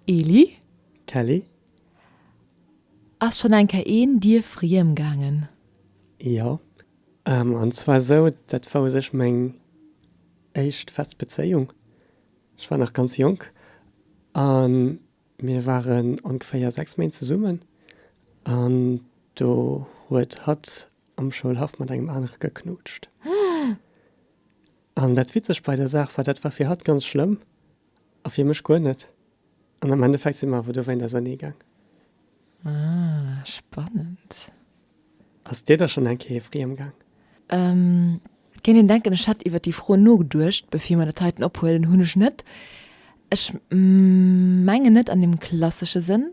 Eli, Kelly? Ass schon eng Kéier een dir friem gaangen? Jo, an zwar esou, dat war u sech meng éischt fest Bezéiung. Ech war nach ganz jonk a mir waren ongeféier 6 Méint zesummen an do huet hatt am Schoulhaff mat engem anere geknutscht. An dat Witzeg bei der Saach war, dat war fir hatt ganz schlëmm, A fir mech guer net. An am Endeffekt si mer awer dowéint ausernee gaang. Ah, spannend. Ass dir da schonn eng Kéier friem gaang? Ehm, kéint een denken, ech hätt iwwert déi Fro nogeduecht, bevir mer dat heiten ophuelen. Hunn ech net. Ech mengen net an deem klassesche Sënn,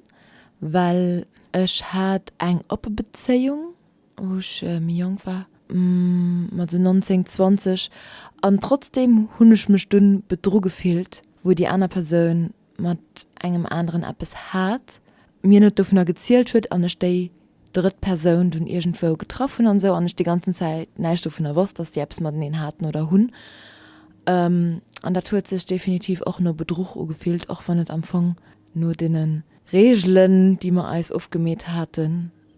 well ech hat eng oppe Bezéiung wou ech méi jonk war, mat esou 19, 20, an trotzdeem hunn ech mech dunn bedru gefillt, wou déi aner Persoun mat engem aneren eppes hat, mir net dovunner gezielt huet an ech déi drëtt Persoun dunn iergendwou getraff hunn an esou an ech déi ganzen Zäit näischt dovunner wosst, dass déi eppes mateneen haten oder hunn. An dat huet sech definitiv och no Bedruch ugefillt, och wann et am Fong no deene Reegelen, déi mer eis ofgemeet haten,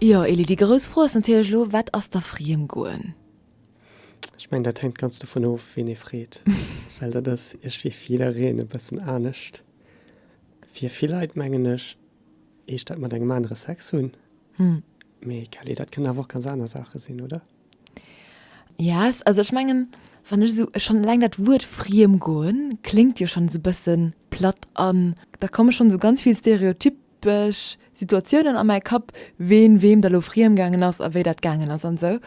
Jo Elie, déi grouss Fro ass natierlech elo, wat ass da friem goen? Ech mengen, dat hänkt ganz dovun of, wien ee freet, well dat ass iech fir jiddereen e bëssen anescht. Fir vill Leit, mengen ech, heescht dat mat engem anere Sex hunn. Mee Kelly, dat kënnen awer och ganz aner Saache sinn, oder? Yes, also ech mengen, wann ech esou, schonn eleng dat Wuert friem goen kléngt jo schonn esou e bësse platt an da komme schonn esou ganz vill Stereotyp Bech Situatiounen a mäi Kapp, ween weem da lo friem gaangen ass a wéi dat gaangen ass an esou.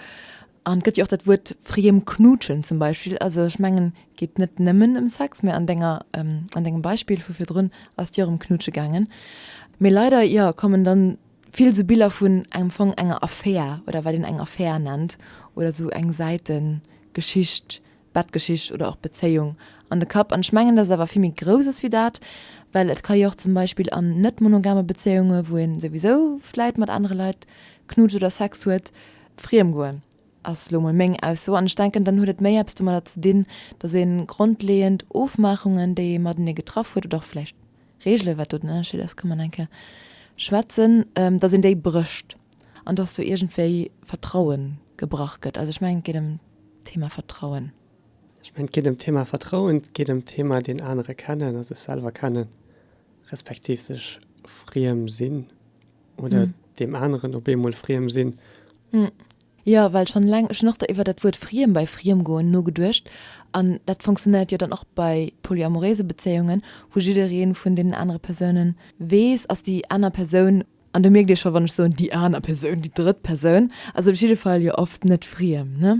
An et gëtt jo och dat Wuert friem knuutschen zum Beispill. Also ech mengen geet net nëmmen ëm Sex, mä an denger, an dengem Beispill vu virdrun ass et jo och ëm knuutsche gaangen. Mee leider, jo, kommen dann vill esou Biller vun engem Fong enger Affär oder wat een eng Affär nennt oder esou eng Säitengeschicht Bettgeschicht oder och Bezéiung an de Kapp. An ech mengen, dass et awer vill méi grouss ass wéi dat, well et ka jo och zum Beispill an net-monogame Bezéiunge wou ee souwisou vläit mat anere Leit knutscht oder Sex huet, friem goen, ass elo emol meng Ausso. An ech denken, dann huet et méi eppes domadder ze dinn, dass ee grondleeënd Ofmaachungen, déi ee matenee getraff huet oder och vläicht, Reegelen, wat do den Ënnerscheed ass, ka man eng Kéier schwätzen, dass een déi brécht an dass do iergendwéi Vertraue gebrach gëtt. Also ech mengen, et geet ëm d'Thema Vertrauen. Ech mengen, et geet ëm d'Thema Vertrauen, et geet ëm d'Thema deen anere kennen a sech selwer kennen, respektiv sech friem sinn. oder deem aneren op eemol friem sinn. Jo, well schonn eleng, ech hunn och do iwwer dat Wuert friem bei Friemgoen nogeduecht, an dat funktionéiert jo dann och bei polyamoréise Bezéiungen, wou jidderee vun deenen anere Persoune weess, ass déi aner Persoun, an do mierkt ee scho wann ech soen déi aner Persoun, déi drëtt Persoun ass op jidde Fall jo oft net friem, ne?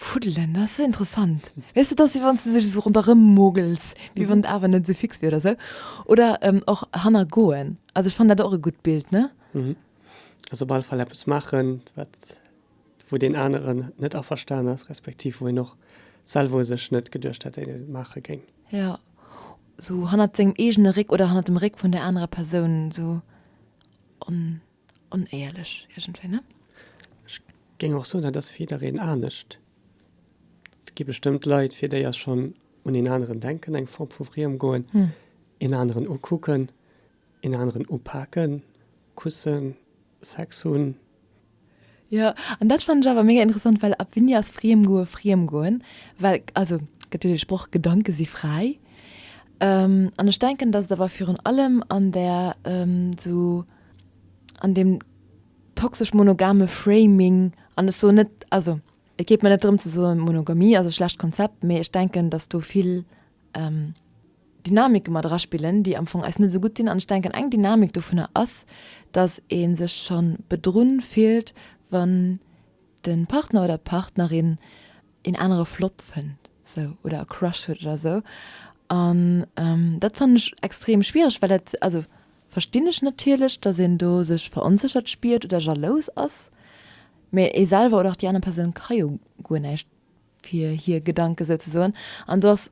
Fuddelen, dat ass esou interessant. Weess de, dat ass wéi wann s de sech esou ronderëm mogels, wéi wann d'Aarbecht net esou fix wier oder esou. Oder och hanner goen. Also ech fannen dat och e gutt Bild, ne? Also op alle Fall eppes maachen, wat, wou deen aneren net averstan ass, respektiv wou een och selwer u sech net geduecht hätt, dat een et maache géing. Jo, esou hannert sengem eegene Réck oder hannert dem Réck vun där anerer Persoun esou. Onéierlech iergendwéi, ne? Ech géing och soen, dat ass fir jiddereen anescht. Et gi bestëmmt Leit, fir déi ass schonn un een aneren denken eng Form vu Friem goen, een aneren ukucken, een aneren upaken, kussen, Sex hunn. Jo, an dat fannen ech awer mega interessant, well ab wéini ass Friem goe Friem goen? Well, also et gëtt jo dee Sproch, Gedanken si fräi. An ech denken, datt et awer virun allem an där esou. an dem toxesch monogame Framing an ech soen net also et geet mer net drëm ze soen Monogamie ass e schlecht Konzept, mee ech denken datt do vill Dynamike mat eraspillen déi am Fong eis net esou gutt sinn an ech denken eng Dynamik dovunner ass datt ee sech schonn bedrunn fillt wann de Partner oder d'Partnerin een anere flott fënnt sou oder e Crush huet oder sou an dat fannen ech extrem schwiereg well dat also Verstinn ech natierlech, dass een do sech veronséchert spiert oder jalous ass, mee ee selwer oder och déi aner Persoun ka jo guer näischt fir hir Gedanke souzesoen. An do ass,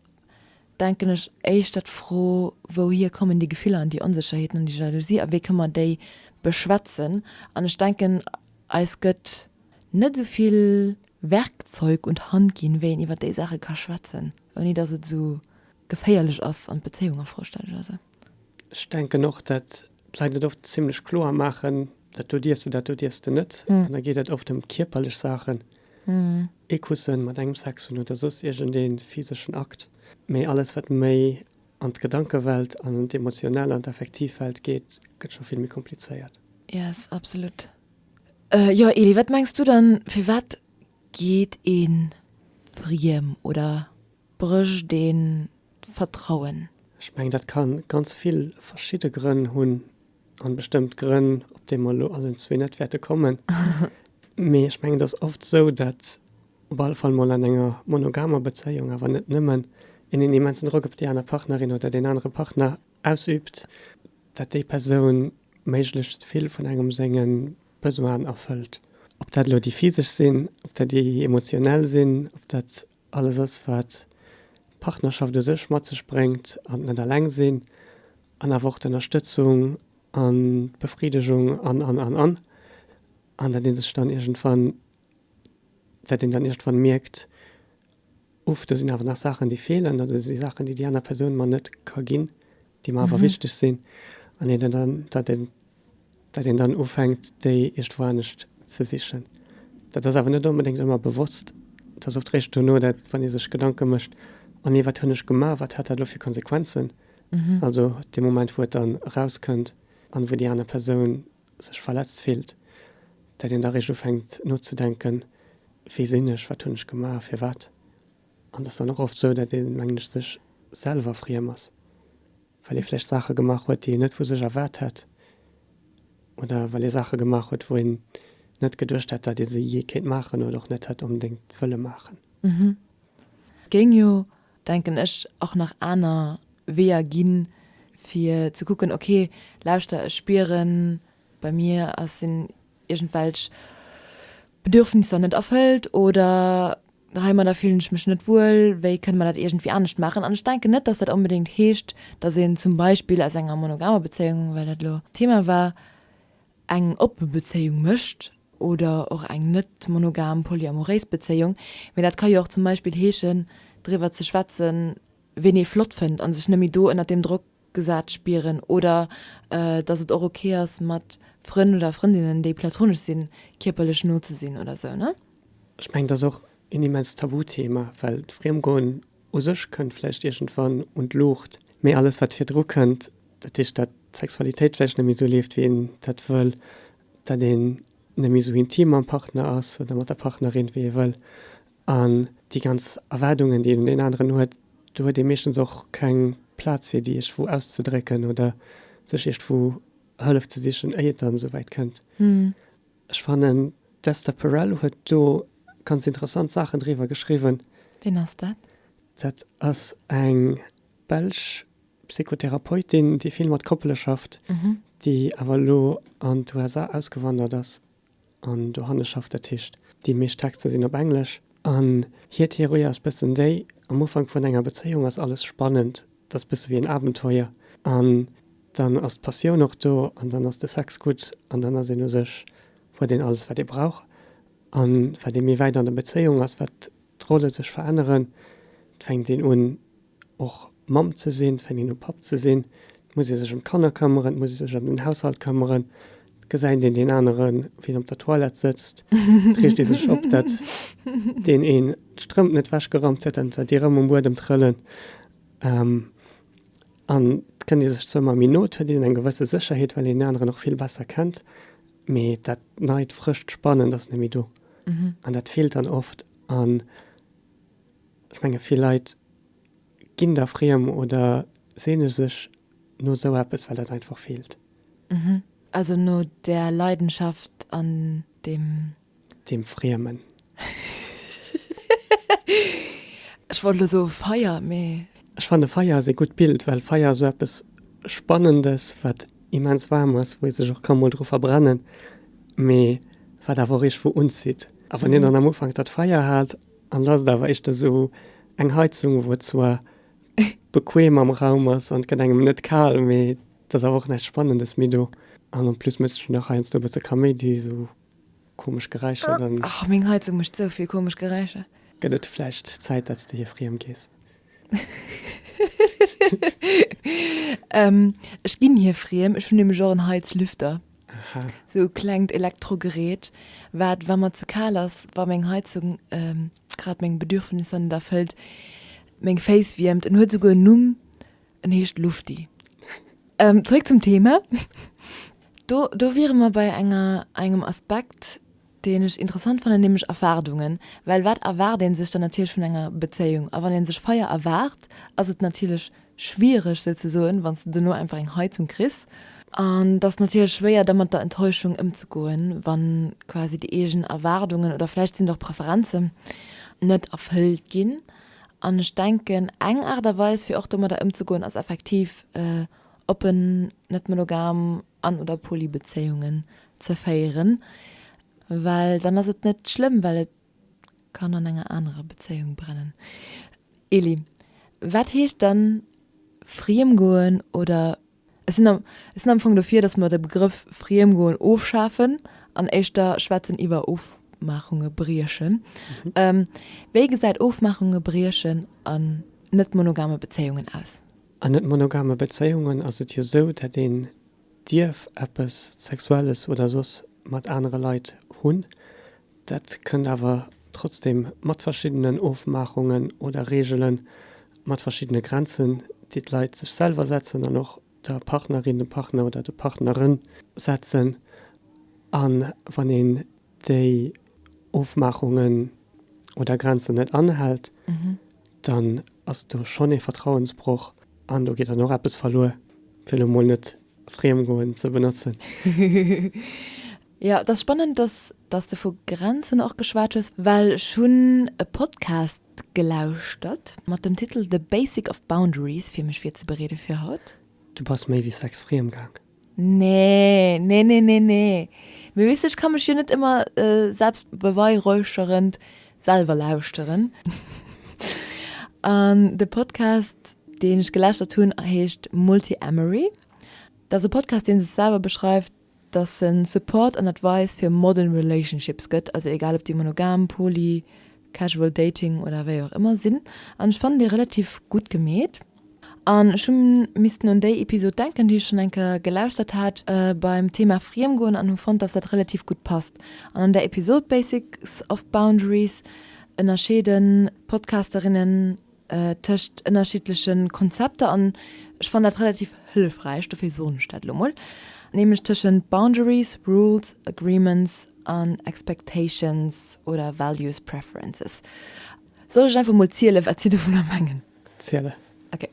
denken ech, éischter d'Fro, wouhier kommen déi Gefiller an déi Onsécherheeten an déi Jalousie a wéi kënne mer déi beschwätzen? An ech denken, eis gëtt net esou vill Werkzeug un d'Hand ginn, wéi een iwwer déi Saache ka schwätzen, ouni dass et esou geféierlech ass an d'Bezéiung a Fro stellt oder esou. Ech denken och, dat d'Leit et oft zimlech kloer maachen, dat do dierfs de, dat do dierfs de net. An da geet et oft ëm kierperlech Saachen, ee Kusse mat engem Sex hunn oder soss iergendee physeschen Akt. Mee alles, wat méi an d'Gedankewelt, an d'emotional, an d'Affektivwelt geet, gëtt scho vill méi komplizéiert. Yes, absolut. Jo, Eli, wat mengs du dann, firwat geet ee friem oder brécht ee Vertrauen? Ech mengen, dat ka ganz vill verschidde Grënn hunn, a bestëmmt Grënn, op déi mer elo allen zwee net wäerte kommen. Mee ech mengen, et ass oft esou, datt op alle Fall mol an enger monogamer Bezéiung, awer net nëmmen, een en immensen Drock op déi aner Partnerin oder deen anere Partner ausüübt, datt déi Persoun méiglechst vill vun engem senge Besoinen erfëllt. Ob dat elo déi physesch sinn, ob dat déi emotionell sinn, ob dat Alles ass, wat d'Partnerschaft u sech mat sech bréngt an d'Net eleng sinn an awer och d'Ënnerstëtzung an d'Befriddegung an, an, an, an, an dat ee sech dann iergendwann, dat een dann iergendwann mierkt, Uff, do sinn awer nach Saachen, déi feelen, oder do si Saachen, déi déi aner Persoun mer net ka ginn. déi mer awer wichteg sinn, an een dann, datt een, datt een dann ufänkt, déi eescht woanescht ze sichen. Dat ass awer net onbedéngt ëmmer bewosst. Et ass oft réischt duerno, dat wann ee sech Gedanke mécht, Oh nee, wat hunn ech gemaach, wat hat dat elo fir Konsequenzen? Also dee Moment, wou et dann erauskënnt an wou déi aner Persoun sech verletzt fillt, datt een da réischt ufänkt nozedenken, Wie sinn ech, wat hunn ech gemaach, firwat? An et ass dann och oft esou, datt een, mengen ech, sech selwer friem ass, well ee vläicht Saache gemaach huet, déi een net vu sech erwaart hätt, oder well ee Saache gemaach huet, wou een net geduecht hätt, datt ee se jee kéint maachen, oder och net hätt onbedéngt wëlle maachen. Et géing jo, denken ech, och nach aner Weeër ginn, fir ze kucken, okay, lauschter, ech spieren, bei mir ass, sinn iergendwelch Bedürfnisser net erfëllt oder heimadder fillen ech mech net wuel, wéi kënne mer dat iergendwéi anescht maachen? An ech denken net, dass dat onbedéngt heescht, dass een zum Beispill aus enger monogamer Bezéiung, well dat elo d'Thema war, eng oppe Bezéiung mécht oder och eng net monogam, polyamoréis Bezéiung. Mee dat ka jo och zum Beispill heeschen, driwwer ze schwätzen, wien ee flott fënnt a sech net méi do ënnert deem Drock gesat spieren oder dass et och ok ass mat Frënn oder Frëndinnen déi platonesch sinn kierperlech no ze sinn oder sou ne? Ech mengen et ass och een immens Tabuthema, well d'Friemgoen u sech kënnt vläicht iergendwann un d'Luucht, mee alles wat virdru kënnt, dat heescht dat d'Sexualitéit vläicht net méi sou leeft wéi een dat wëll, dat een net méi sou intim mam Partner ass oder mat der Partnerin wéi ee wëll, An déi ganz Erwaardungen, déi een un deen aneren huet, do huet ee meeschtens och keng Plaz fir déi iergwou auszedrécken oder sech iergwou Hëllef ze sichen, éier et dann esou wäit kënnt. Ech fannen, d'Esther Perel huet do ganz interessant Saachen driwwer geschriwwen. Wien ass dat? Dat ass eng belsch Psychotherapeutin, déi vill mat Koppele schafft, déi awer elo an d'USA ausgewandert ass. an dohanne schafft, dat heescht déi meescht Texter sinn op Englesch an hir Theorie ass bëssen déi, am Ufank vun enger Bezéiung ass alles spannend, dat ass bësse wéi en Abenteuer an dann ass d'Passioun och do an dann ass de Sex gutt an dann ass een u sech, huet een alles wat ee brauch an wat ee méi wäit an der Bezéiung ass, wat d'Rolle sech veränneren, et fänkt een un Och Mamm ze sinn, fänkt een u Papp ze sinn. Et muss ee sech ëm d'Kanner këmmeren, et muss ee sech ëm den Haushalt këmmeren. Et gesäit een deen anere wéi en op der Toilette sëtzt, et reegt ee sech op, datt deen een d'Strëmp net wechgeraumt huet, dann huet déi erëm um Buedem trëllen. An et kënnt ee sech zwou Mol méi no, et huet een eng gewësse Sécherheet, well een deen aneren och vill besser kennt, mee dat neit, frëscht, spannend ass net méi do an dat feelt dann oft. An. Ech menge vill Leit ginn da friem oder seene sech no sou eppes, well et einfach feelt. Mhm. Also no där Leidenschaft an dem. Dem Friemen. Ech wollt elo soe Feier, mee. Ech fanne Feier ass ee gutt Bild, well Feier ass sou eppes Spannendes, wat immens waarm ass, wou ee sech och ka mol dru verbrennen, mee wat awer och iergendwou unzitt. A wann een dann am Ufank dat Feier hat An da ass et awer éischter esou eng Heizung, wou et zwar bequem am Raum ass an et gëtt engem net kal, mee et ass awer och näischt Spannendes méi do. An en plus mécht et nach heiansdo e bësse Kaméidi, esou komesch Geräischer. Dann. Och meng Heizung mécht esou vill komesch Geräischer. Gëtt et vläicht Zäit, datt s de hir friem gees? Ech ginn hir friem, ech hunn nämlech och en Heizlüfter. Aha. Sou e klengt Elektrogerät, wat, wa mer ze kal ass, wa meng Heizung grad meng Bedürfnisser net erfëllt, meng Féiss wiermt. En huet esouguer en Numm, en heescht Lufti. Zréck zum Thema. Do, do wiere mer bei enger, engem Aspekt, deen ech interessant fannen, nämlech Erwaardungen, well wat erwaart ee sech dann natierlech vun enger Bezéiung? A wann ee sech Feier erwaart, ass et natierlech schwiereg sou ze soen, wann s de dono einfach eng Heizung kriss. An et ass natierlech schwéier da mat der Enttäuschung ëmzegoen, wann quasi déi eegen Erwaardungen, oder vläicht sinn et och Preferenzen, net erfëllt ginn. An ech denken eng Aart a Weis fir och domadder ëmzegoen ass effektiv oppen, net monogam an oder Polybezéiungen ze féieren, well dann ass et net schlëmm, well et kann an enger anerer Bezéiung brennen. Eli, Wat heescht dann friemgoen oder, ech sinn am, ech sinn am Fong dofir, datt mer de Begrëff friemgoen ofschafen an éischter schwätzen iwwer Ofmaachunge briechen. Wéi gesäit Ofmaachunge briechen an net-monogame Bezéiungen aus? An net monogame Bezéiungen ass et jo sou, dat een dierf eppes Sexuelles oder soss mat anere Leit hunn, dat kënnt awer trotzdem mat verschiddenen Ofmaachungen oder Reegelen, mat verschiddene Grenzen, déi d'Leit sech selwer setzen an och der Partnerin, dem Partner oder der Partnerin setzen. A wann een déi Ofmaachungen oder Grenzen net anhält, dann ass do schonn ee Vertrauensbroch an do geet dann och eppes verluer, fir elo mol net Friemgoen ze benotzen. Jo, et ass spannend, dass, dass de vu Grenzen och geschwat hues, well ech hunn e Podcast gelauschtert mat dem Titel The Basic of Boundaries, fir mech virzebereede fir haut. Du bass méi wéi sechs Friemgaang. Nee, nee, nee, nee, nee. Mee weess de, ech ka mech jo net ëmmer selbstbeweihräucherend selwer lauschteren. An de Podcast, deen ech gelauschtert hunn, heescht Multiamory. Dat ass e Podcast, dee sech selwer beschreift, dass e Support an Advice fir modern relationships gëtt, also egal ob déi monogam, poly, casual dating oder wéi och ëmmer sinn. An ech fannen dee relativ gutt gemeet. An ech hu missten un déi Episod denken, déi ech schonn eng Kéier gelauschtert hat beim Thema Friemgoen an hu fonnt, dass dat relativ gutt passt. An an der Episod Basics of Boundaries ënnerscheeden d'Podcasterinnen tëscht ënnerschiddleche Konzepter, an ech fannen dat relativ hëllefräich, dofir soen ech dat elo mol, nämlech tëschent Boundaries, Rules, Agreements an Expectations oder Values, Preferences. Soll ech einfach mol zielen, wat si dovunner mengen? zielen. Ok,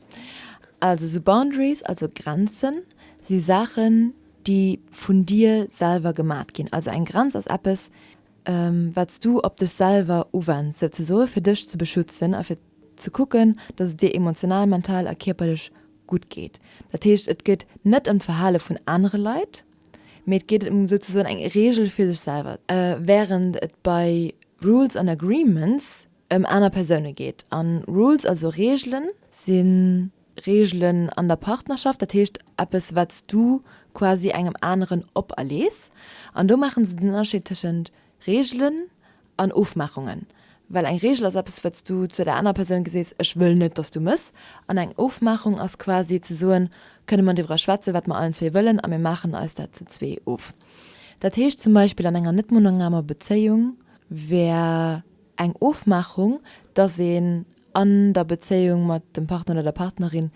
also sou Boundaries, also Grenzen, si Saachen, déi vun dir selwer gemat ginn. Also eng Grenz ass eppes, wat s du op dech selwer uwends, souzesoe fir dech ze beschützen a fir ze kucken, datt et dir emotional, mental a kierperlech gutt geet. Dat heescht, et geet net ëm d'Verhale vun anere Leit, mee et geet ëm souzesoen eng Reegel fir sech selwer. Wärend et bei Rules and Agreements ëm aner Persoune geet. A Rules, also Reegelen, sinn Reegelen an der Partnerschaft, dat heescht eppes wat s du quasi engem aneren operlees. An do maachen se den Ënnerscheed tëschent Reegelen an Ofmaachungen, well eng Reegel ass eppes wat s du zu der anerer Persoun gesees, ech wëll net dass du mëss. An eng Ofmaachung ass quasi ze soen, kënne mer driwwer schwätzen wat mer allen zwee wëllen a mir maachen eis dat zu zwee of. Dat heescht zum Beispill an enger net-monogamer Bezéiung wär. Eng Ofmaachung, dass een an der Bezéiung mat dem Partner oder der Partnerin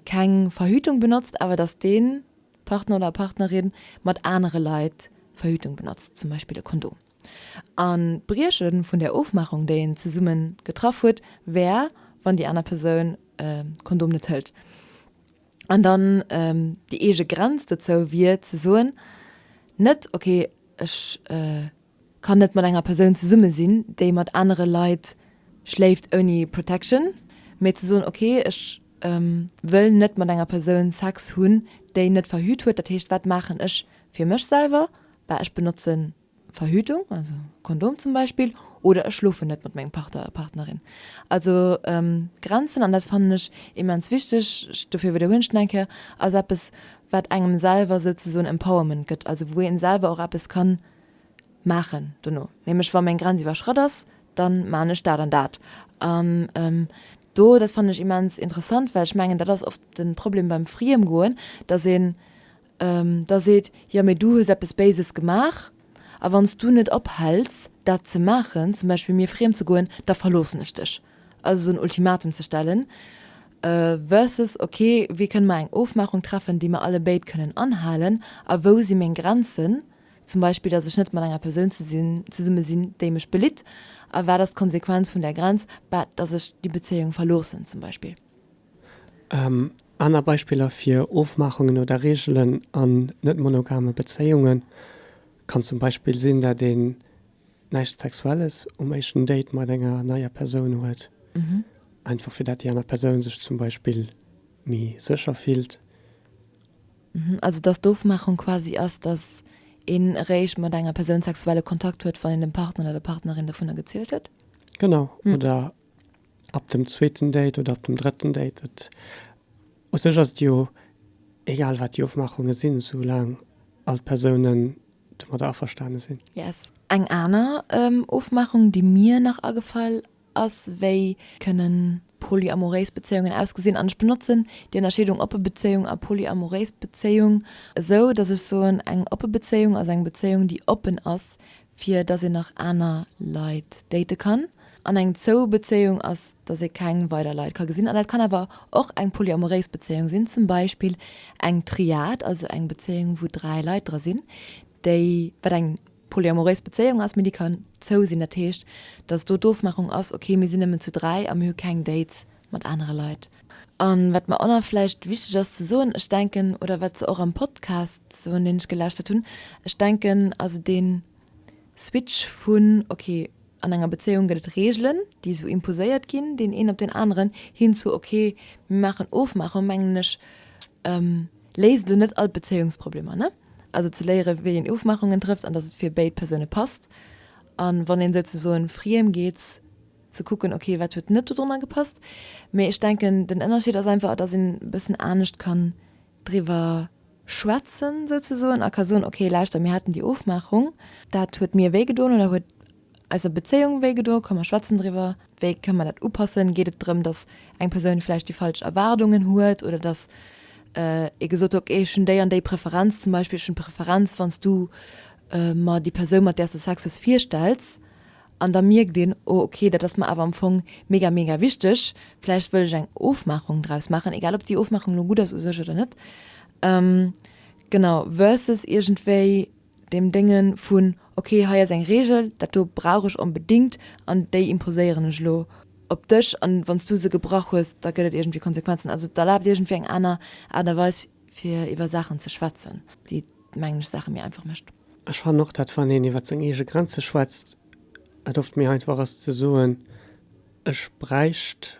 keng Verhütung benotzt, awer dass dee Partner oder Partnerin mat anere Leit Verhütung benotzt, zum Beispill e Kondom. An d'Brieche vun där Ofmaachung, déi een zesumme getraff huet, wär, wann déi aner Persoun de Kondom net hëlt. An dann déi eege Grenz dozou wier ze soen, net, okay, ech Kann net mat enger Persoun zesumme sinn, déi mat anere Leit schléift ouni Protection, mee ze soen, ok, ech wëll net mat enger Persoun Sex hunn, déi net verhüt huet. Dat heescht, wat maachen ech fir mech selwer? Bah, ech benotze Verhütung, also Kondom zum Beispill, oder ech schlofen net mat mengem Partner oder Partnerin. Also Grenzen, an dat fannen ech immens wichteg, dofir widderhuelen ech nach eng Kéier, ass eppes, wat engem selwer souzesoen Empowerment gëtt, also wou ee selwer och eppes kann Maachen dono, nämlech wa meng Grenz iwwerschratt ass, dann maan ech dat an dat. An do, dat fannen ech immens interessant, well ech mengen, dat ass oft den Problem beim Friemgoen, dass een da seet, jo mee du hues eppes Béises gemaach, a wann s du net ophells dat ze maachen, zum Beispill mir friem ze goen, da verloossen ech dech. Also esou en Ultimatum ze stellen versus ok, wéi kënne mer eng Ofmaachung treffen, déi mer allebéid kënnen anhalen a wou si meng Grenzen, Zum Beispill, dass ech net mat enger Persoun zesumme sinn, déi mech belitt. A wat ass d'Konsequenz vun där Grenz? Bah, dass ech déi Bezéiung verloossen, zum Beispill. Aner Beispiller fir Ofmaachungen oder Reegelen an net-monogame Bezéiunge kann zum Beispill sinn, dat een näischt Sexuelles um éischten Date mat enger neier Persoun huet, einfach fir dat déi aner Persoun sech zum Beispill méi sécher fillt. Also dass d'Ofmaachung quasi ass, dass een eréischt mat enger Persoun sexuelle Kontakt huet, wann een dem Partner oder der Partnerin dovunner gezielt huet? Genau, oder ab dem zweeten Date oder ab dem drëtten Date. Et, u sech ass et jo egal, wat déi Ofmaachunge sinn, esou laang all d'Persounen domadder averstane sinn. Yes. Eng aner Ofmaachung, déi mir nach agefall ass, wéi kënnen polyamoréis Bezéiungen ausgesinn an ech benotzen déi Ënnerscheedung oppe Bezéiung a polyamoréis Bezéiung esou, datt ech soen, eng oppe Bezéiung ass eng Bezéiung, déi oppen ass, fir datt een nach aner Leit date kann, an eng zou Bezéiung ass, datt ee keng weider Leit ka gesinn. An dat kann awer och eng polyamoréis Bezéiung sinn, zum Beispill eng Triad, also eng Bezéiung, wou dräi Leit dra sinn, déi, wat eng polyamoréis Bezéiung ass, mee déi kann zou sinn, dat heescht, datt do d'Ofmaachung ass, okay, mir sinn nëmmen zu dräi a mir hu keng Dates mat anere Leit. A wat mer och nach vläicht wichteg ass ze soen, ech denken, oder wat se och am Podcast soen, deen ech gelauschtert hunn, ech denken also dee Switch vun, okay, an enger Bezéiung gëtt et Reegelen, déi esou imposéiert ginn, deen een op deen aneren, hin zu, okay, mir maachen Ofmaachung, mengen ech, Léist elo net all d'Bezéiungsproblemer, ne? Also ze léiere wéi een Ofmaachungen trëfft an dass et fir béid Persoune passt. An wann een souzesoen friem geet, ze kucken, ok wat huet net dodonner gepasst. Mee ech denken den Ënnerscheed ass einfach dass een bëssen anescht kann driwwer schwätzen souzesoen a ka soen, ok lauschter mir haten déi Ofmaachung, dat huet mir wéi gedoen oder huet eiser Bezéiung wéi gedo, ka mer schwätzen driwwer, wéi ka mer dat upassen, geet et drëm, datt eng Persoun vläicht déi falsch Erwaardungen huet oder datt ee gesot huet, ok ech hunn déi an déi Preferenz zum Beispill, ech hunn d'Preferenz wann s du mer déi Persoun mat där s de Sex hues virstells an da mierkt een, oh ok dat ass mer awer am Fong mega mega wichteg, vläicht wëll ech eng Ofmaachung draus maachen, egal ob déi Ofmaachung elo gutt ass u sech oder net, genau, versus iergendwéi. deem Déngen vun, ok, hei ass eng Reegel, dat do brauch ech onbedéngt an déi imposéieren ech elo op dech an wann s du se gebrach hues, da gëtt et iergendwéi Konsequenzen. Also et erlaabt iergendwéi eng aner Aart a Weis fir iwwer Saachen ze schwätzen, déi, mengen ech, Saache méi einfach mécht. Ech fannen och, dat wann een iwwer seng eege Grenze schwätzt, et oft méi einfach ass ze soen, ech bräicht.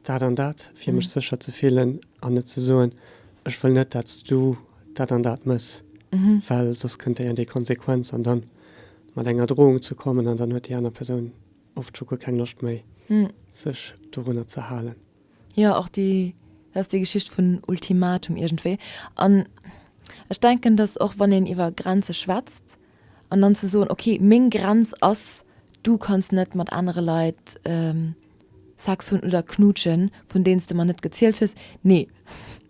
dat an dat, fir mech sécher ze fillen an net ze soen, ech wëll net, dat s du dat an dat mëss, well soss kënnt déi an déi Konsequenz an da mat enger Drohung ze kommen an dann huet déi aner Persoun oft scho guer keng Loscht méi, sech dorunner ze halen. Jo, och déi, dat ass déi Geschicht vun Ultimatum iergendwéi. An ech denken, datt och wann een iwwer Grenze schwätzt an dann ze soen, okay, meng Grenz ass, du kanns net mat anere Leit. Sex hunn oder knuutschen, vun deenen s de mer net gezielt hues? Nee.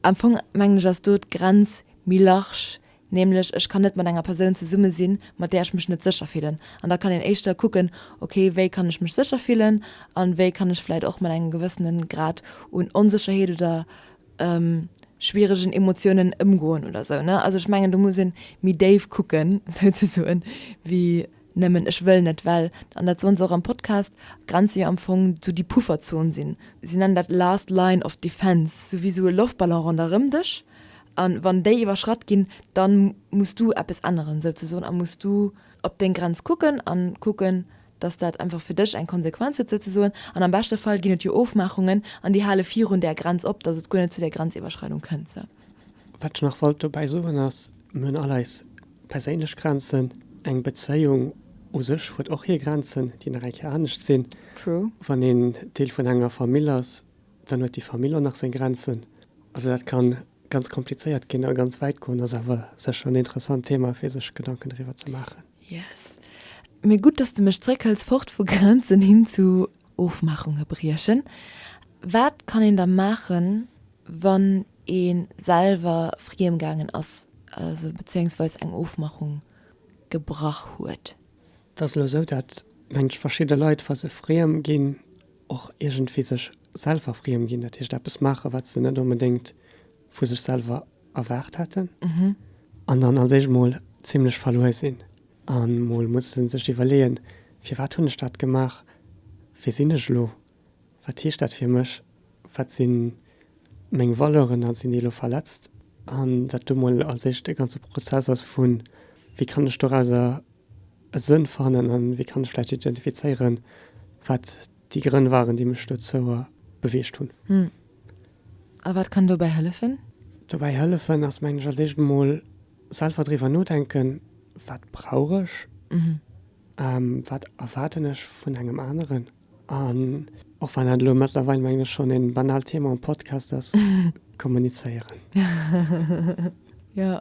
Am Fong mengen ech ass do d'Grenz méi large, nämlech ech kann net mat enger Persoun zesumme sinn, mat där ech mech net sécher fillen. An da kann een éischter kucken, okay, wéi kann ech mech sécher fillen a wéi kann ech vläicht och mat engem gewëssene Grad un Onsécherheet oder schwieregen Emotiounen ëmgoen oder esou. Also ech mengen do muss ee méi déif kucken, souzesoen, wéi. Nëmmen ech wëll net, well, an dat soen se och am Podcast, d'Grenze jo am Fong sou déi Pufferzon sinn. Si nennen dat last line of defence, sou wéi sou e Loftballon ronderëm dech. A wann déi iwwerschratt ginn, da muss du eppes änneren, souzesoen, a muss du op deng Grenz kucken a kucken, dass dat einfach fir dech eng Konsequenz huet, souzesoen. An am beschte Fall ginn et jo Ofmaachungen an déi hale virun där Grenz op, dass et guer net zu där Grenziwwerschreidung kënnt. Wat ech nach wollt dobäi soen ass, mir hunn all eis perséinlech Grenzen. Eng Bezéiung u sech huet och hir Grenzen, déi nach eng Kéier anescht sinn. Wann een Deel vun enger Famill ass, dann huet déi Famill och nach seng Grenzen. Also dat ka ganz komplizéiert ginn a ganz wäit goen. Ass awer sécher en interessant Thema, fir sech Gedanken driwwer ze maachen. Yes. Mee gutt, dass de mech zréckhëls, fort vu Grenzen hin zu Ofmaachunge briechen. Wat kann een da maachen, wann ee selwer friem gaangen ass, also bezéiungsweis eng Ofmachung gebrach huet? Et ass elo esou, dat mengt verschidde Leit, wa se friem ginn, och iergendwéi sech selwer friem ginn, dat heescht eppes maachen, wat se net onbedéngt vu sech selwer erwaart hätten an dann als éischt mol zimlech verluer sinn a mol musse sech iwwerleeën, Firwat hunn ech dat gemaach? Wie sinn ech elo? Wat heescht dat fir mech? Wat si meng Valeuren a sinn déi elo verletzt? An dat do mol als éischt e ganze Prozess ass vu wéi kann ech dorauser e Sënn fannen a wéi kann ech vläicht identifizéieren, wat déi Grënn waren, déi mech dozou beweegt hunn. A wat kann dobäi hëllefen? Dobäi hëllefen ass, mengen ech, als éischt emol selwer driwwer nodenken, Wat brauch ech? Wat erwaarden ech vun engem aneren? An och wann dat elo mëttlerweil, mengen ech, schonn e banaalt Thema am Podcast ass, kommunizéieren. Jo,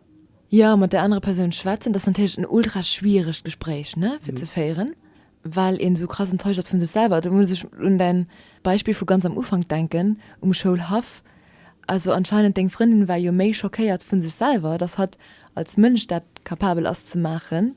jo, mat där anerer Persoun schwätzen. Dat ass natierlech en ultra schwieregt Gespréich, ne, fir ze féieren. well een esou krass enttäuscht ass vun sech selwer. Do muss ech un däin Beispill vu ganz am Ufank denken um Schoulhaff. Also anscheinend deng Frëndin war jo méi schockéiert vun sech selwer, dass hatt als Mënsch dat capabel ass ze maachen,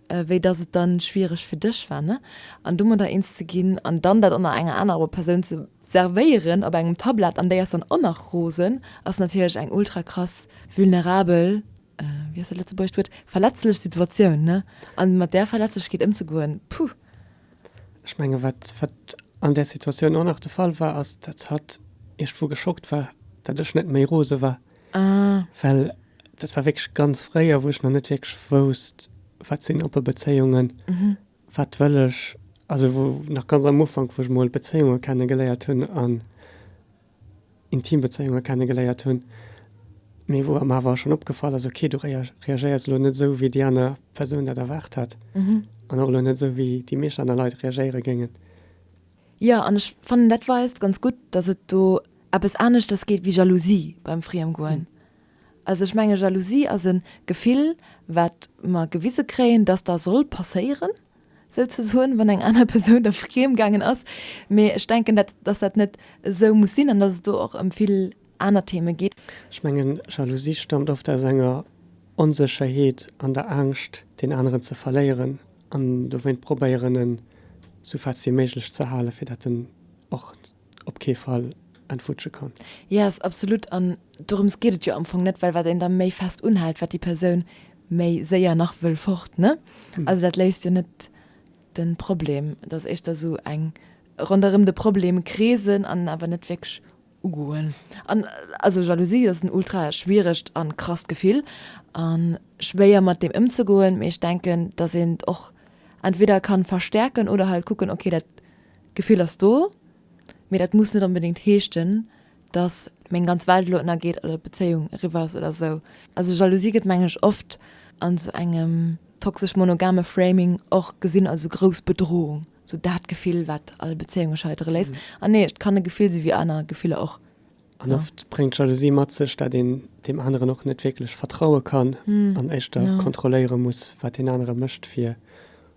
wéi dass et dann schwiereg fir dech war, ne? An domadder eens ze ginn an dann dat och nach enger anerer Persoun ze servéieren op engem Tablett an déi ass dann och nach rosen, ass natierlech eng ultra krass vulnerabel wéi ass dat lëtzebuergescht Wuert, verletzlech Situatioun, ne, a mat där Verletzlechkeet ëmzegoen, puh. Ech menge wat, wat an där Situatioun och nach de Fall war, ass, datt hatt iergendwou geschockt war, datt ech net méi rose war. Ah. Well dat war wierklech ganz fréier, wou ech nach net wierklech wousst, wat sinn oppe Bezéiungen, wat wëll ech, also wou nach ganz am Ufank, wou ech mol Bezéiunge kenne geléiert hunn an. Intimbezéiunge kennegeléiert hunn, mee wou em awer schonn opgefall ass, ok, du reagéiers elo net esou, wéi déi aner Persoun dat erwaart hätt an och elo net esou, wéi déi meescht aner Leit reagéiere géingen. Jo, an ech fannen, dat weist ganz gutt, datt et do eppes aneschters geet wéi Jalousie beim Friemgoen. Also ech menge Jalousie ass e Gefill, wat mer gewise kréien, datt dat soll passéieren, sou ze soen, wann eng aner Persoun der friem gaangen ass. Mee ech denken, dat, dass dat net esou muss sinn an dass et do och ëm vill aner Theeme geet. Ech mengen, Jalousie staamt oft aus enger Onsécherheet an der Angscht, deen aneren ze verléieren an dowéint probéieren, en sou fest wéi méiglech ze halen, fir dat en och. op kee Fall entwutsche kann. Yes, absolut. An dorëms geet et jo am Fong net, well wat een da méi fest unhält, wat déi Persoun méi séier nach wëll fort, ne? Also dat léist jo net de Problem. Et ass éischter esou eng ronderëm de Problem kreesen an en awer net wierklech ugoen. An also Jalousie ass en ultra schwieregt a krasst Gefill a schwéier mat deem ëmzegoen, mee ech denken, dass een et och entweder ka verstärken oder halt kucken, okay dat, D'Gefill ass do, mee dat muss net onbedéngt heeschten, dass meng ganz Welt elo ënnergeet oder d'Bezéiung eriwwer ass oder esou. Also Jalousie gëtt mengen ech oft an esou engem toxesch monogame Framing och gesinn als esou grouss Bedrohung, esou dat Gefill wat all Bezéiunge scheitere léisst. An nee, et kann e Gefill si wéi aner Gefiller och. An oft bréngt Jalousie mat sech, dat een deem aneren och net wierklech vertraue kann an éischter kontrolléiere muss, wat deen anere mécht fir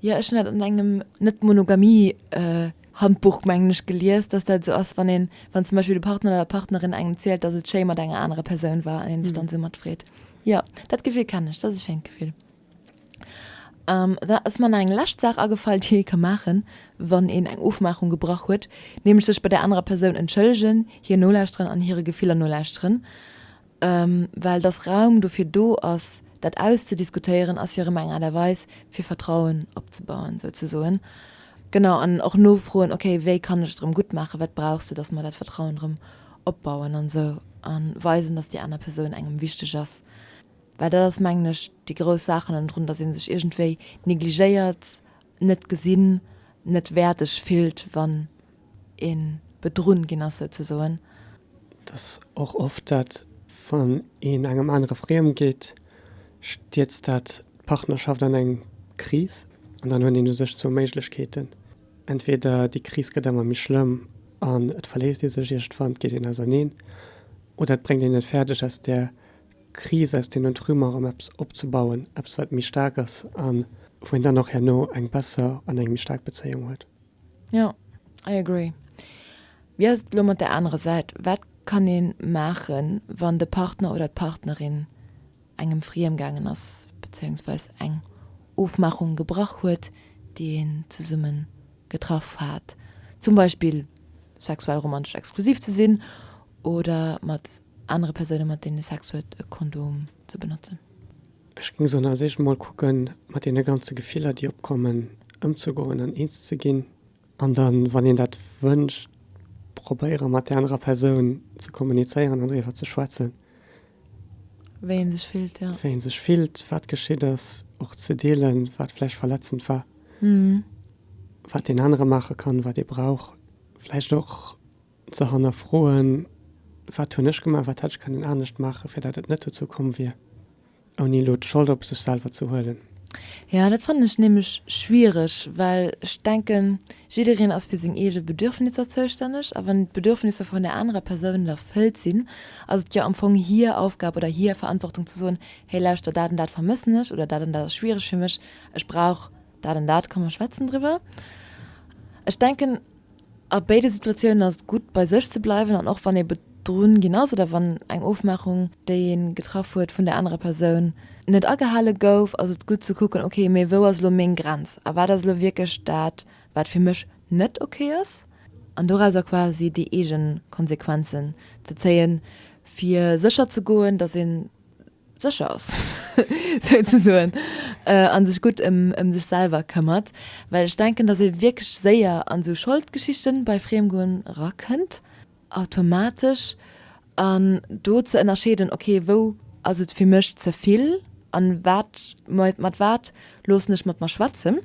Jo, ech hunn dat an engem Net-Monogamie-Handbuch, mengen ech, gelies, dass dat esou ass, wann een, wann zum Beispill de Partner oder d'Partnerin engem erzielt, dass et schéi mat enger anerer Persoun war an ee sech dann esou mat freet. Jo, dat Gefill kennen ech. Dat ass e schéint Gefill. Da ass mer nach eng lescht Saach agefall, déi ee ka maachen, wann een eng Ofmaachung gebrach huet, nämlech sech bei där anerer Persoun entschëllegen, hir nolauschteren an hire Gefiller nolauschteren. Well dass Raum dofir do ass, dat auszudiskutéieren, ass jo erëm eng Aart a Weis, fir Vertrauen opzebauen, souzesoen. Genau, an och nofroen, okay, wéi kann ech et erëm gutt maachen, wat brauchs du, dass mer dat Vertrauen erëm opbauen an esou a weisen, dass déi aner Persoun engem wichteg ass. Well dat ass, mengen ech, déi grouss Saach hannendrun, dass ee sech iergendwéi negligéiert net gesinn, net wäerdeg fillt, wann ee bedrunn ginn ass souzesoen. Et ass och oft dat, wann een engem anere friem geet, stierzt dat d'Partnerschaft an eng Kris an dann huet een u sech zwou Méiglechkeeten, entweder déi Kris gëtt ëmmer méi schlëmm an et verléisst ee sech, iergendwann geet een auserneen, oder et bréngt een et fäerdeg aus där Kris aus deenen Trümm erëm eppes opzebauen, eppes wat méi staark ass a wou een dann och herno eng besser an eng méi staark Bezéiung huet. Jo, I agree. Wéi ass et elo mat der anerer Säit? Wat kann ee maachen, wann de Partner oder d'Partnerin engem friem gaangen ass, bezéiungsweis eng Ofmaachung gebrach huet, déi een zesumme getraff hat, zum Beispill sexuell-romantesch exklusiv ze sinn oder mat Anere Persoune mat deene Sex huet, e Kondom ze benotzen. Ech géing soen, als éischt emol kucken, mat deene ganze Gefiller, déi opkommen, ëmzegoen an eens ze ginn. An dann, wann een dat wënscht, probéiere mat där anerer Persoun ze kommunizéieren an driwwer ze schwätzen. Wéi ee sech fillt, jo. Wéi ee sech fillt, wat geschitt ass. Och ze deelen, wat vläicht verletzend war. Wat deen anere maache kann, wat ee brauch. Vläicht och Ze hannerfroen, Wat hunn ech gemaach, wat hätt ech kënnen anescht maachen, fir datt et net dozou komm wier, ouni elo d'Schold op sech selwer ze huelen? Jo, dat fannen ech nämlech schwiereg, well ech denken, jiddereen ass fir seng eege Bedürfnisser zoustänneg. A wann d'Bedürfnisser vun där anerer Persoun erfëllt sinn, ass et jo am Fong hir Aufgab oder hir Verantwortung ze soen, Hey lauschter, dat an dat vermëssen ech oder dat an dat ass schwiereg fir mech, ech brauch dat an dat, komm mer schwätzen driwwer. Ech denken. A béide Situatiounen ass et gutt, bei sech ze bleiwen an och wann ee bedrunn ginn ass oder wann eng Ofmaachung, déi ee getraff huet, vun där anerer Persoun net agehale gouf, ass et gutt ze kucken, ok, mee wou ass elo meng Grenz a wat ass elo wierklech dat, wat fir mech net ok ass an dorauser quasi déi eegen Konsequenzen ze zéien, fir sécher ze goen, dass een sécher ass, souzesoen, a sech gutt ëm sech selwer këmmert. Well ech denken, datt ee wierklech séier an esou Scholdgeschichte bei Friemgoen erakënnt, automatesch. An do ze ënnerscheeden, ok, wou ass et fir mech ze vill a wat, mat wat loossen ech mat mer schwätzen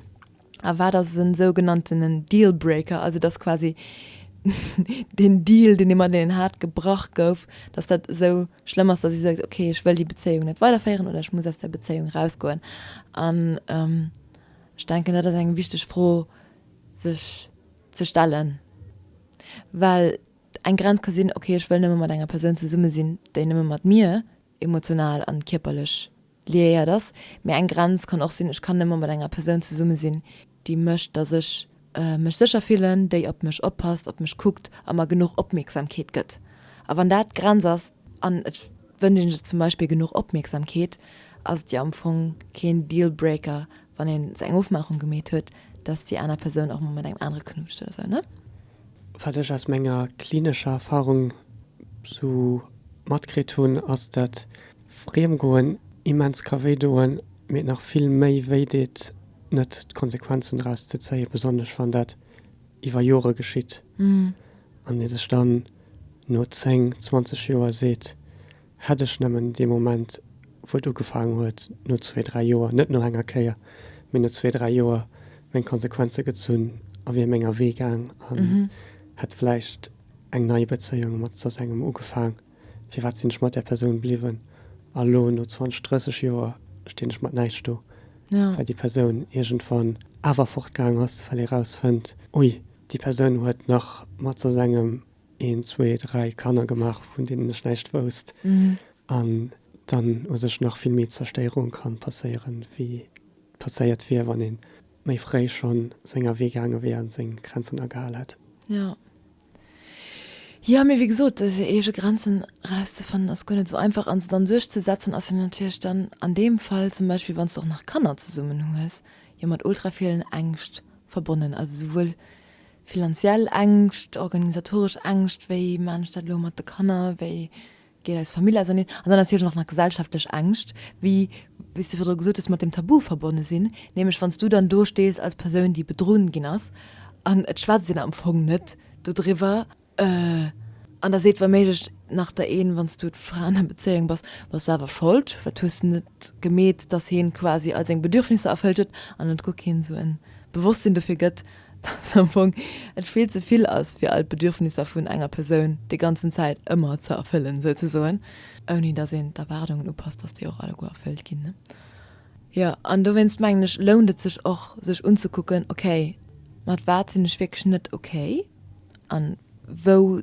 a wat ass e sougenanntenen Dealbreaker, also datt quasi den Deal, deen ee mateneen hat, gebrach gouf, datt dat esou. schlëmm ass, datt si seet, okay, ech wëll déi Bezéiung net weiderféieren oder ech muss aus der Bezéiung rausgoen. An ech denken, dat ass eng wichteg Fro sech ze stellen. Well eng Grenz ka sinn, okay, ech wëll nëmme mat enger Persoun zesumme sinn, déi nëmme mat mir emotional an kierperlech Liiert ass. Mee eng Grenz kann och sinn, ech kann nëmme mat enger Persoun zesumme sinn, déi mécht, datt ech mech sécher fillen, déi op mech oppasst, op mech kuckt a mer genuch Opmierksamkeet gëtt. A wann dat d'Grenz ass, an et wënscht ee sech zum Beispill genuch Opmierksamkeet, ass et jo am Fong keen Dealbreaker, wann ee sech eng Ofmaachung gemeet huet, datt déi aner Persoun och mol mat engem anere knutscht oder sou, ne? Wat ech aus menger klinescher Erfarung sou matkritt hunn, ass dat Friem goen, immens ka wéi doen, mee nach vill méi wéi deet net d'Konsequenzen draus ze zéien, besonnesch wann dat iwwer Jore geschitt an ee sech dann no 10, 20 Joer seet, hätt ech nëmmen dee Moment wou et ugefaangen huet, no zwee, dräi Joer, net no enger Kéier, mee no zwee, dräi Joer meng Konsequenze gezunn a wier menger Wee gaang an hätt vläicht eng nei Bezéiung mat soss engem ugefaang. Firwat sinn ech mat där Persoun bliwwen? A lo, no 20, 30 Joer, stinn ech mat näischt do, well déi Persoun iergendwann awer fortgaang ass, well ee rausfënnt, Ui, déi Persoun huet nach mat sos engem een, zwee, dräi Kanner gemaach, vun deenen ech näischt wousst. An dann u sech nach vill méi Zerstéierung ka passéieren, wéi passéiert wier, wann ee méi fréi schonn seng Awee gaange wier a seng Grenzen agehal hätt. Jo, mee wéi gesot, seng eege Grenzen erauszefannen ass guer net esou einfach a se dann duerchzesetzen ass jo natierlech dann an deem Fall, zum Beispill wann s de och nach Kanner zesummen hues, jo mat ultra villen Ängscht verbonnen, also souwuel finanziell Ängscht, organisatoresch Ängscht, wéi man ech dat elo mat de Kanner, wéi Geet eis Famill auserneen? An dann natierlech och nach gesellschaftlech Ängscht, wéi s de virdru gesot hues, mat deem Tabu verbonne sinn, nämlech wann s du dann do stees als Persoun, déi bedrunnen ginn ass, an et schwätzt een am Fong net dodriwwer, an da seet wouméiglech nach der een, wann s du d'Fra an der Bezéiung bass, bass du awer schold, wat hues de net gemeet, datt heen quasi all seng Bedürfnisser erfëllt huet, an et guer keen esou en Bewosstsinn dofir gëtt. dat se am Fong et vill ze vill ass, fir all d'Bedürfnisser vun enger Persoun déi ganzen Zäit ëmmer ze erfëllen, souzesoen, ouni dass een d'Erwaardungen upasst, dass déi och alleguer erfëllt ginn. Jo, an dowéinst mengen ech, lount et sech och, sech unzekucken, okay, mat wat sinn ech wierklech net okay an wou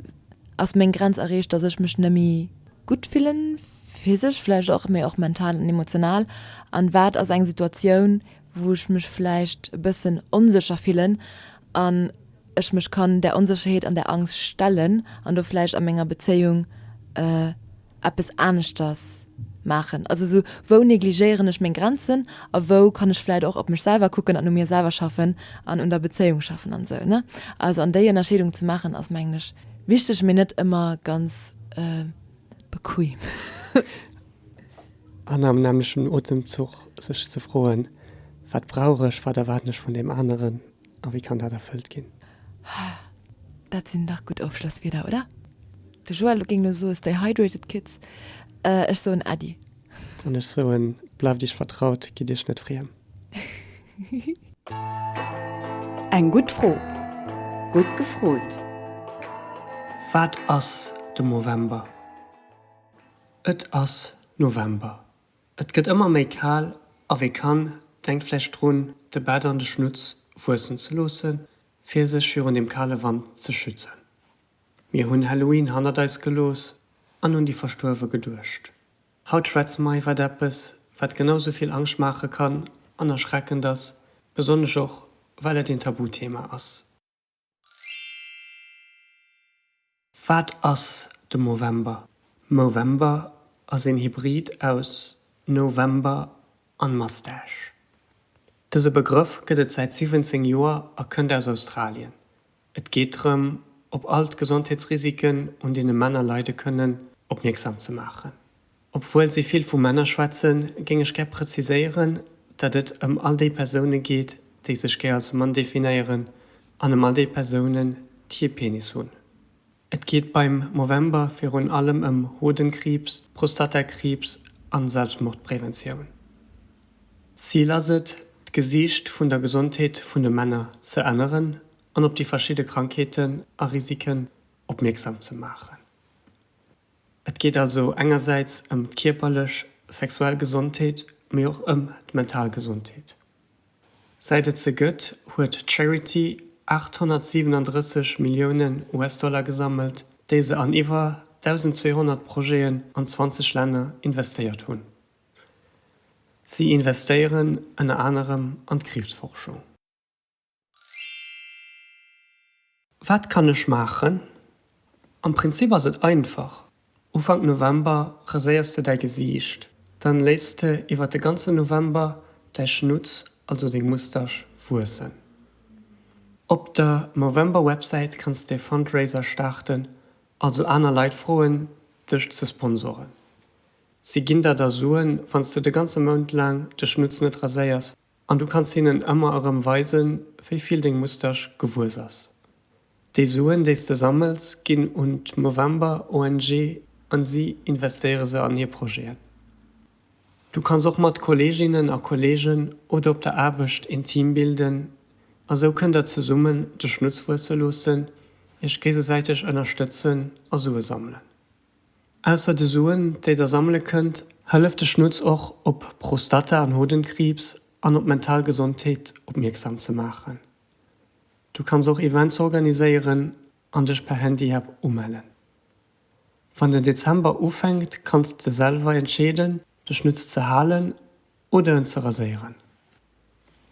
ass meng Grenz erreecht, dass ech mech nëmme gutt fillen, physesch vläicht och, mee och mental an emotional, an wat ass eng Situatioun, wou ech mech vläicht e bëssen onsécher fillen an ech mech kann där Onsécherheet an där Angscht stellen an do vläicht a menger Bezéiung eppes aneschters maachen. Also esou, wou negligéieren ech meng Grenzen a wou kann ech vläicht och op mech selwer kucken an u mir selwer schaffen an un der Bezéiung schaffen an esou, ne? Also an déi Ënnerscheedung ze maachen ass mengen ech wichteg, mee net ëmmer ganz bequem. An am nämmlechen Otemzuch sech ze froen, Wat brauch ech, wat erwaarden ech vun deem aneren a wéi kann dat erfëllt ginn? Dat sinn dach gutt Ofschlosswierder, oder? De Joël géing elo soe, Stay hydrated, Kids. Ech soen, Äddi. An ech soen, Bleift iech vertraut, gitt iech net friem. Eng gutt Fro. Gutt gefrot. Wat ass de Movember? Et ass November, et gëtt ëmmer méi kal a wee kann, denkt vläicht drun, de Bart an de Schnutz wuessen ze loosse fir sech virun dem kale Wand ze schützen. Mir hunn Halloween hannert eis gelooss an un déi Verstuerwe geduecht. Haut schwätze mer iwwert eppes, wat genau sou vill Angscht maache kann an erschreckend ass, besonnesch och, well et een Tabuthema ass. Wat ass de Movember? Movember ass een Hybrid aus November an Mustache. Dëse Begrëff gëtt et säit 17 Joer a kënnt aus Australien. Et geet drëm, op all d'Gesondheetsrisiken, un deene Männer leide kënnen, opmierksam ze maachen. Obwuel si vill vu Männer schwätzen, géing ech gär präziséieren, datt et ëm all déi Persoune geet, déi sech gär als Mann definéieren an ëm all déi Persounen, déi ee Penis hunn. Et geet beim Movember virun allem ëm Hodenkriibs, Prostatakriibs a Selbstmordpräventioun. D'Zil ass et, d'Gesiicht vun der Gesondheet vun de Männer ze änneren an op déi verschidde Krankheeten a Risiken opmierksam ze maachen. Et geet also engersäits ëm d'kierperlech, sexuell Gesondheet, mee och ëm d'mental Gesondheet. Säit et se gëtt, huet d'Charity 837 Milliounen US-Dollar gesammelt, déi se an iwwer 1.200 Projeten an 20 Länner investéiert hunn. Si investéieren ënner anerem an d'Kriibsforschung. Wat kann ech maachen? Am Prinzip ass et einfach, Ufank November raséiers de däi Gesiicht. Dann léiss de iwwert de ganzen November däi Schnutz, also deng Moustache, wuessen. Op der Movember Websäit kanns de e Fundraiser staarten, also aner Leit froen dech ze sponsoren. Si ginn der da Suen, wann s de de ganze Mount laang de Schnutz net raséiers An du kanns hinnen ëmmer erëm weisen, wéi vill deng Moustache gewuess ass. Déi Suen, déi s de sammels, ginn un d'Movember ONG an si investéiere se an hir Projeten. Du kanns och mat Kolleeginnen a Kolleegen oder op der Aarbecht een Team bilden a sou kënnt der zesummen de Schnutz wuesse loossen, iech géigesäiteg ënnerstëtzen a Sue sammelen. Ausser de Suen, déi der sammele kënnt, hëlleft de Schnutz och, op Prostata an Hodenkriibs an op mental Gesondheet opmierksam ze maachen. Du kanns och Events organiséieren an dech per Handyapp umellen. Wann den Dezember ufänkt, kanns de selwer entscheeden, de Schnutz ze halen Oder en ze raséieren.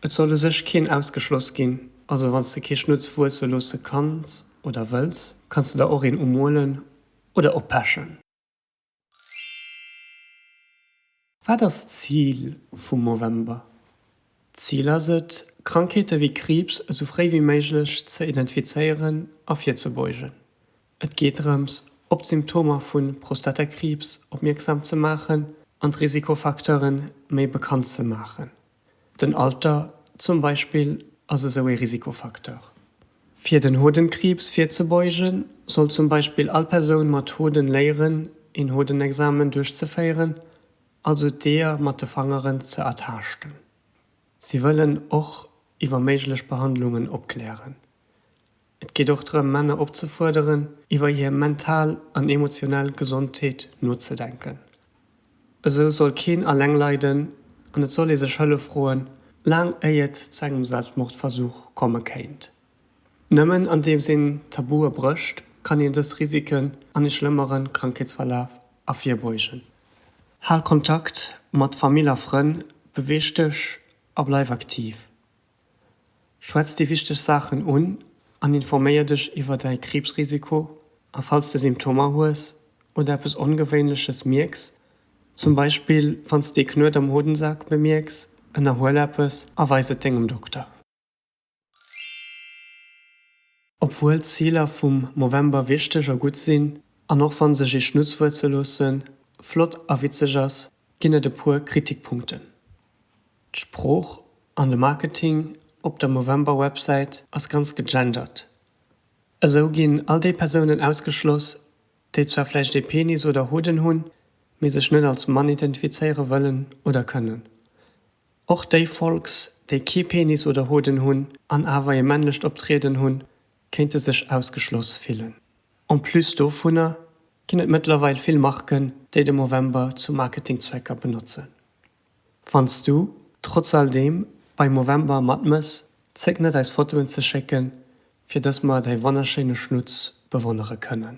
Et soll u sech keen ausgeschloss ginn, also wann s de kee Schnutz wuesse loosse kanns oder wëlls, kanns de der och een umolen oder oppechen. Wat ass d'Zil vum Movember? D'Zil ass et, Krankheete wéi Kriibs esou fréi wéi méiglech ze identifizéieren a virzebeugen. Et geet drëms, op d'Symptomer vu Prostatakriibs opmierksam ze maachen an d'Risikofacteure méi bekannt ze maachen. Den Alter zum Beispill ass esou ee Risikofacteur. Fir den Hodenkriibs virzebeugen, soll zum Beispill all Persoun mat Hoden léieren, een Hodenexamen duerchzeféieren, also d'Eeër mat de Fangeren ze ertaaschten. Si wëllen och iwwer méiglech Behandlungen opklären. Et geet och drëm, Männer opzefuerderen, iwwer hir mental an emotionell Gesondheet nozedenken. Esou soll keen alleng leiden an et soll ee sech Hëllef froen, laang éi et zu engem Selbstmordversuch komme kéint. Nëmmen andeems een d'Tabue brécht, kann een dës Risiken an e schlëmmere Krankheetsverlaf ervirbeugen. Hal Kontakt mat Famill a Frënn, beweeg dech a bleif aktiv. Schwätz déi wichteg Saachen un an informéier dech iwwer däi Kriibsrisiko a falls de Symptomer hues oder eppes Ongewéinleches mierks, zum Beispill wann s de ee Knuet am Hodensak bemierks, ënnerhuel eppes a weis et dengem Dokter. Obwuel d'Ziler vum Movember wichteg a gutt sinn, an och wann sech ee Schnutzwuert ze loosse flott a witzeg ass, ginn et e puer Kritikpunkten. D'Sprooch an de Marketing op der Movember-Websäit ass ganz gegendert. Esou ginn all déi Persounen ausgeschloss, déi zwar vläicht ee Penis oder Hoden hunn, mee sech net als Mann identifizéiere wëllen oder kënnen. Och déi Folks, déi kee Penis oder Hoden hunn an awer ee männlecht Optrieden hunn, kéinte sech ausgeschloss fillen. En plus dovunner ginn et mëttlerweil vill Marken, déi de Movember zu Marketingzwecker benotzen. Wann s du, trotz all deem, bei Movember matmëss, zéck net eis Fotoen ze schécken, fir dass mer däi wonnerschéine Schnutz bewonnere kënnen.